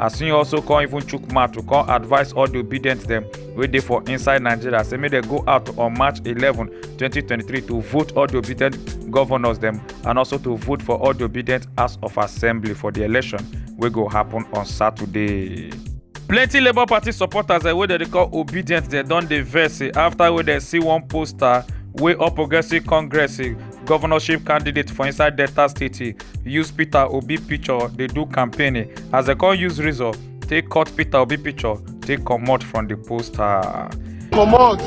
as he also come even chook mouth to come advise all the obedient dem wey dey for inside nigeria say make dem go out on march eleven twenty twenty three to vote all the obedient governors dem and also to vote for all the obedient house of assembly for the election wey go happen on saturday. plenty labour party supporters eh, wey dem dey call obedient dem don dey vex eh, after wey dem see one poster wey all progressives congress eh, governorship candidate for inside delta state use peter obi picture dey do campaign as dem come use razor take cut peter obi picture take comot from the poster. comot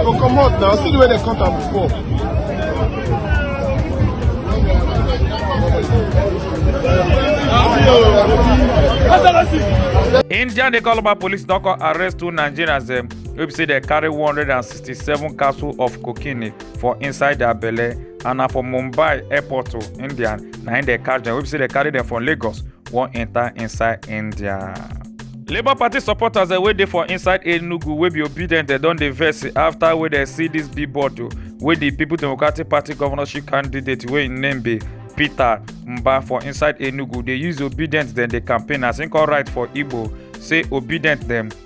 go comot na see the way dem cut am before. indian dey call about police don come arrest two nigerians dem wey be say dem carry one hundred and sixty-seven capsule of cocaine for inside their belle and na for mumbai airport to india na im dey catch dem wey be say dey carry dem from lagos wan enter inside india. labour party supporters wey dey for inside enugu wey be obedient dem don dey vex afta wey dem see dis billboard o wey di people democratic party governorship candidate wey im name be peter mba for inside enugu dey use obedient dem dey campaign as im come write for igbo say obedient dem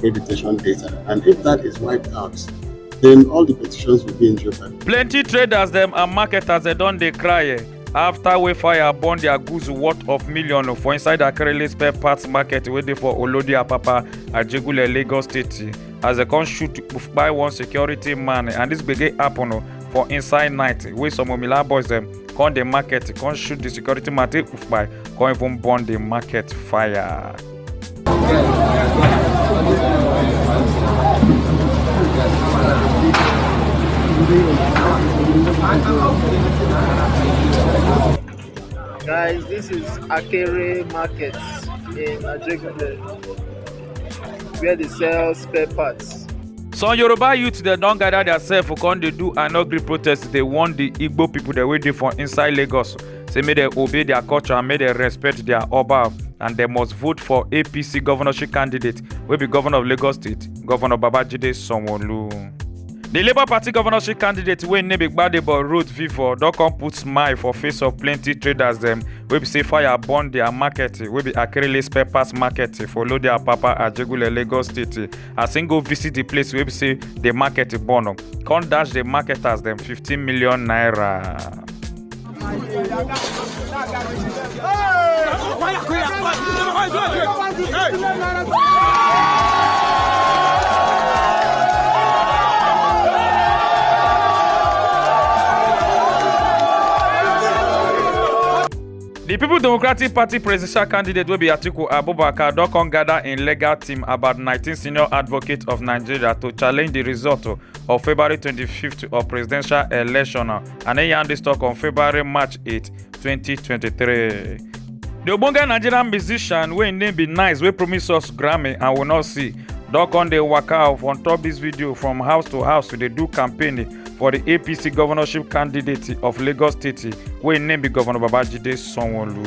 pay detention data. And if that is wiped out, then all the petitions will be in jeopardy. Plenty traders them and marketers they don't they cry eh, after Wayfire burn their goods worth of million for inside Akerele spare parts market waiting for Olodi Apapa at Jegule Lagos State as they come shoot by one security man and this begin happen oh, for inside night wey some omila boys them come the market come shoot the security man take by come even burn the market fire. Guys, this is Akere Market in Ajegunle, where they sell spare parts. some yoruba youth dem don gather theirself come dey do anogri protest dey warn the igbo people dem wey dey for inside lagos say make dem obey their culture and make dem respect their oba and dem must vote for apc governorship candidate wey be governor of lagos state governor babajide sanwo-olu. di labour party governorship candidate wey name be gbadebo road vivour don come put smile for face of plenty traders dem wey be say fire burn their market wey be akerele spare parts market for lodiapapa ajegunle lagos state as im go visit di place wey be say di market e born come dash di marketers dem 15 million naira. di people democratic party presidential candidate wey be atiku abubakar don come gather im legal team about 19 senior advocates of nigeria to challenge di result of february 25th of presidential election and e yarn dis tok on february march 8 2023. di ogbonge nigerian musician wey im name be nice wey promise us grammy and we no see don come dey waka off on top dis video from house to house to dey do campaign for di apc governorship candidate of lagos state wey im name be governor babajide sanwo-olu.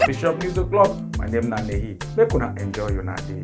bishop news o'clock my name na nehi make una enjoy una day.